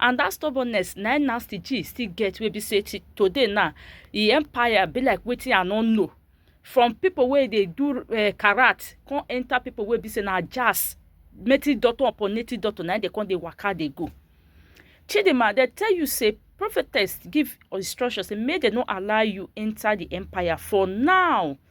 and that stubbornness na im nasty g still get wey be say till today now e empire be like wetin i no know from people wey dey do uh, karat come enter people wey be say na jazz native doctor upon native doctor na im dey come dey waka dey go chidinma dey tell you say prophetess give instruction say make dem no allow you enter the empire for now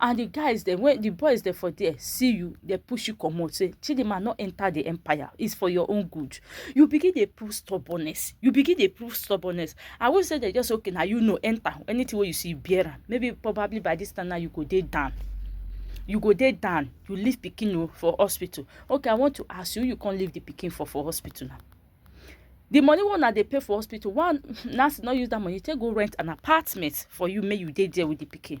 and the guys dem when the boys dem for there see you they push you come out. say chidinma not enter the empire it's for your own good you begin to prove stubbornness you begin to prove stubbornness i won't say they just okay now you know enter anything where you see bearer maybe probably by this time now you go there down you go there down you leave picking oh, for hospital okay i want to ask you you can't leave the picking for for hospital now the money one that they pay for hospital one nurse not use that money take go rent an apartment for you make you dey there with the picking.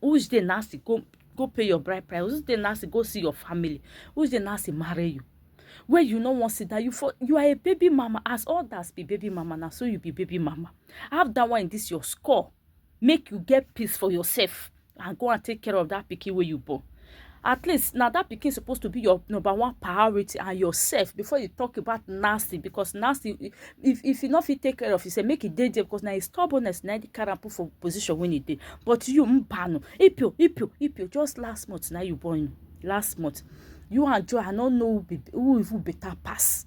Which day Nancy go go pay your bride price? Which day Nancy go see your family? Which day Nancy marry you? Where you no wan sit down, you for you are a baby mama. As others be baby mama, na so you be baby mama. Have that one in this your score. Make you get peace for yourself and go and take care of that pikin wey you born. at least now that pikin supposed to be your number one priority and yourself before you talk about nasty because nasty if if you not fit take care of yourself make it dey there because now it's stubbornness now the carry put for position when it dey but you mbano ipio ipio ipio just last month now you born last month you and joy i no know who even better pass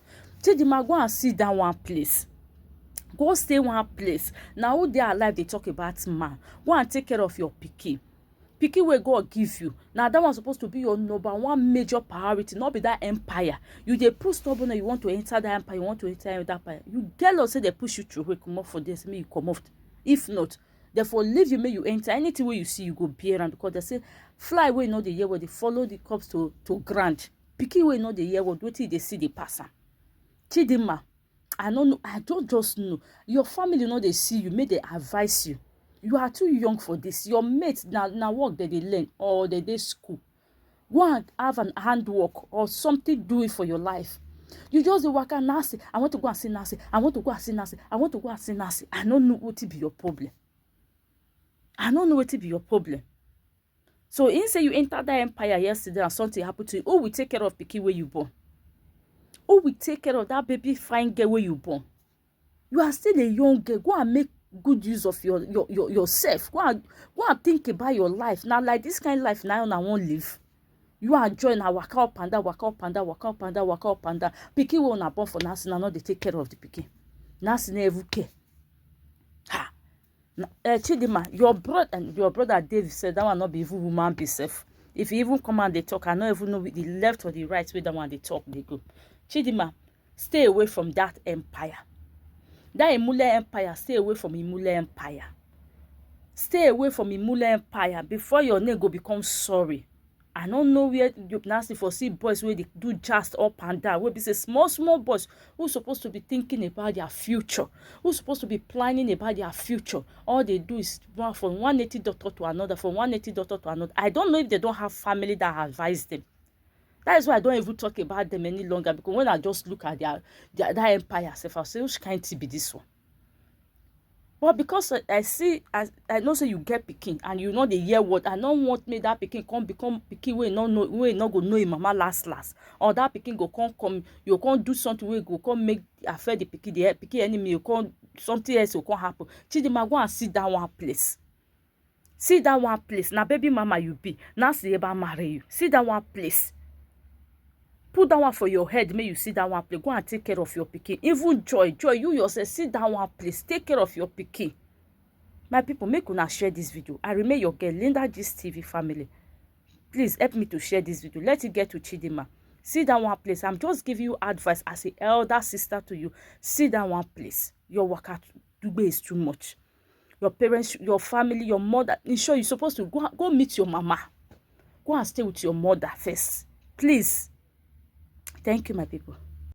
Chidinma go and sit down one place go stay one place na who dey alive dey talk about man go and take care of your pikin pikin wey God give you na that one suppose to be your number one major priority no be that empire you dey push stubborn you want to enter that empire you want to enter that empire you get law say they push you through comot for there say make you comot if not therefore leave you make you enter anything wey you see you go bear am because they say fly wey no dey hear well dey follow the corpse to to ground pikin wey no dey hear word wetin e dey see dey pass am chidinma i no know i don just know your family no dey see you make dem advise you you are too young for this your mate na na work dem dey learn or dem dey school go and have an handwork or something do it for your life you just dey waka nancy i want to go and see nancy i want to go and see nancy i want to go and see nancy i no know wetin be your problem i no know wetin be your problem So he say you enter that empire yesterday and something happened to you. Who will take care of pikin where you born? Who will take care of that baby fine girl where you born? You are still a young girl. Go and make good use of your, your, your yourself. Go and, go and think about your life. Now, like this kind of life now, I won't live. You are join her waka up and down, waka up and down, waka up and down, waka up and down. Pikin wey una born for nursing, na no dey take care of the pikin. Nursing every care. uh, chidima your brother and your brother david said that one not be even human be self if he even come and they talk i no even know the left or the right way that one they talk they go chidima stay away from that empire that imule empire stay away from imule empire stay away from imule empire before your name go become sorry i no know where you now see for see boys wey dey do jazz up and down wey be say small small boys who suppose to be thinking about their future who suppose to be planning about their future all they do is run from one native doctor to another from one native doctor to another i don't know if they don't have family that advise them that is why i don't even talk about them any longer because when i just look at their, their that empire sef i say which kind thing be this one but because i i see as i know say you get pikin and you no dey hear word i no want make that pikin come become pikin wey no know wey no go know im mama last last or that pikin go come come you go come do something wey go come make affect the pikin the pikin enemy go come something else go come happen chidinma go and sit down one place see that one place na baby mama you be na see eba marry you see that one place put that one for your head make you see that one place go and take care of your pikin even joy joy you yourself see that one place take care of your pikin my people make una share this video i remain your girl linda gist tv family please help me to share this video let it get to chidima see that one place i'm just giving you advice as a elder sister to you see that one place your worker to do is too much your parents your family your mother in short you suppose to go go meet your mama go and stay with your mother first please thank you my people